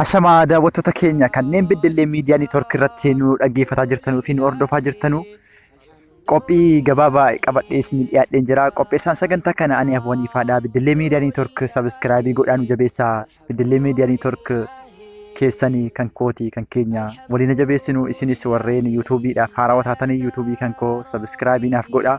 Ashamaa daawwattoota keenya kanneen beddellee miidiyaa neetwoorkii irratti nu dhaggeeffataa jirtanuu fi nu hordofaa jirtanuu Qophii gabaabaa qabadhee isin dhiyaadheen jira. Qopheessaan sagantaa kana ani Afwan Ifaadha. Biddilee Miidiyaa Neetwork sabiskiraabii godhaan jabeessaa. Biddilee Miidiyaa Neetwork keessanii kan kooti kan keenya waliin jabeessinu isinis warreen yuutuubiidhaaf haarawaa taatanii yuutuubii kan koo sabiskiraabii naaf godhaa.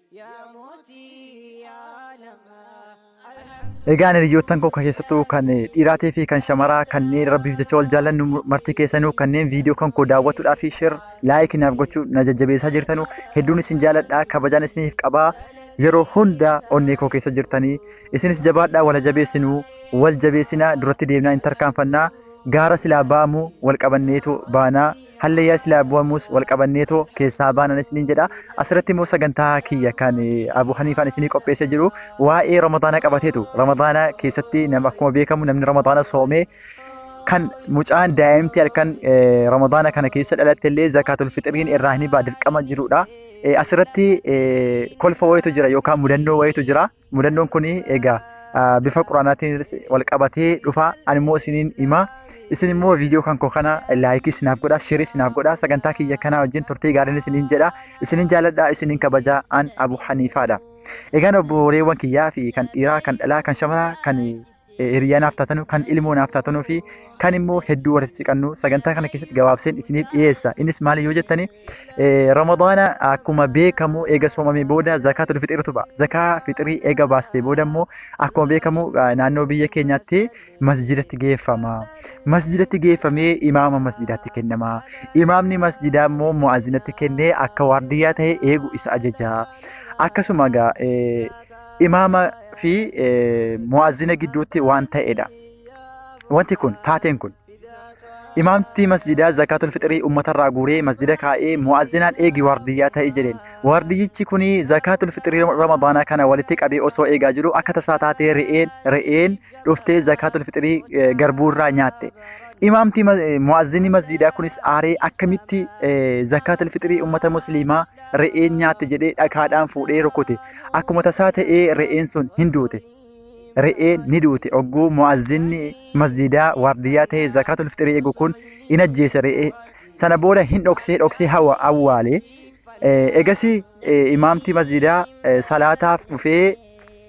Egaan hiriyoottan koo kan keessattuu kan dhiiraatii fi kan shamaraa kanneen rabbiif jecha wal jaallannu martii keessanuu kanneen viidiyoo kan koo daawwatuudhaa fi sheer laayikii naaf gochuu na jajjabeessaa jirtanu hedduun isin jaalladhaa kabajaan isiniif qabaa yeroo hunda onnee koo keessa jirtanii isinis jabaadhaa wal jabeessinuu wal jabeessinaa duratti deemnaa hin tarkaanfannaa gaara silaa ba'amu wal qabanneetu baanaa Hallayyaa silaa bu'amuus wal qabanneetoo keessaa baanan isiniin jedha. Asirratti immoo sagantaa kiyya kan Abu Haniifaan isinii qopheessee jiru waa'ee Ramadaana qabateetu. Ramadaana keessatti nama akkuma beekamu namni Ramadaana soomee kan mucaan daa'imti halkan Ramadaana kana keessa dhalatte illee zakaatul fixiriin irraa ni ba'a dirqama jirudha. Asirratti kolfa wayitu jira yookaan mudannoo wayitu jira. Mudannoon kun egaa bifa quraanaatiin wal qabatee dhufa. Ani immoo isiniin himaa. Isin immoo viidiyoo kan koo kana laayikii isinaaf godha, sheerii isinaaf godha. Sagantaa kiyya kanaa wajjin turtii gaariin isiniin jedha. Isiniin jaaladha, isiniin kabaja. An Abu Haniifaadha. Egaan obboleewwan kiyyaa fi kan dhiiraa, kan dhalaa, kan shamaraa, kan hiriyaa naaf taatanu, kan ilmoo naaf taatanuu fi kan immoo hedduu walitti siqannu sagantaa kana keessatti gabaabseen isiniif dhiyeessa. Innis maali yoo jettani Ramadaana akkuma beekamu eega soomamee booda zakaa tul fixiritu ba'a. Zakaa fixirii eega baastee booda immoo akkuma beekamu naannoo biyya keenyaatti masjidatti geeffama. Masjidatti geeffamee imaama masjidaatti kennama. Imaamni masjidaa immoo mu'aazinatti kennee akka waardiyyaa ta'e eegu isa ajaja. Akkasuma egaa imaama fi mu'azzina gidduutti waan ta'edha. Wanti kun taateen kun imaamti masjidaa zakaatul fixrii ummatarraa guuree masjida kaa'ee mu'azzinaan eegi waardiyyaa ta'e jedheen. Waardiyyichi kun zakaatul fixrii ramadaanaa kana walitti qabee osoo eegaa jiru akka tasaa taatee re'een re'een dhuftee zakaatul fixrii garbuurraa nyaatte. Imaamti mu'azzinni masjidaa kunis aaree akkamitti zakaatul fixrii ummata musliimaa re'een nyaatte jedhee dhagaadhaan fuudhee rukute akkuma tasaa ta'ee re'een sun hin duute re'een ni duute ogguu mu'azzinni masjidaa waardiyyaa ta'ee zakaatul fixrii eegu kun in ajjeese re'ee sana booda hin dhoksee dhoksee hawa awwaale egasii imaamtii masjidaa salaataaf dhufee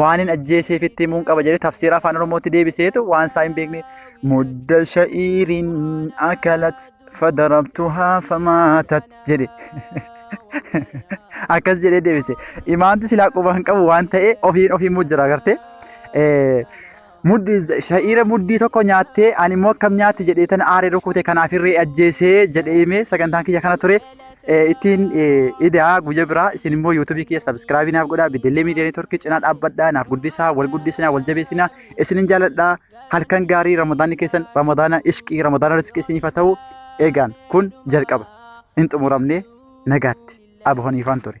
waanin ajjeeseefitti himuun qaba jedhee tafsiira afaan oromootti deebiseetu waan isaa hin beekne mudda sha'iirin akalat fadarabtuhaa famaatat jedhe akkas jedhee deebise imaamti silaa quba hin qabu waan ta'e ofiin ofii muu jira agartee Muddi sha'iira muddii tokko nyaattee ani immoo akkam nyaatti jedhee tan aaree rukute kanaaf irree ajjeesee jedhee himee sagantaan kiyya kana ture eh, ittiin eh, idaa guyya biraa isin immoo yuutuubii kiyya sabiskiraabii naaf godhaa beddellee miidiyaa neetworkii cinaa dhaabbadhaa naaf guddisaa wal guddisinaa wal jabeessinaa isinin jaaladhaa halkan gaarii ramadaanni keessan ramadaana ishqii ramadaana riskii isiniif haa ta'u eegaan kun jalqaba hin xumuramne nagaatti abahoniifaan ture.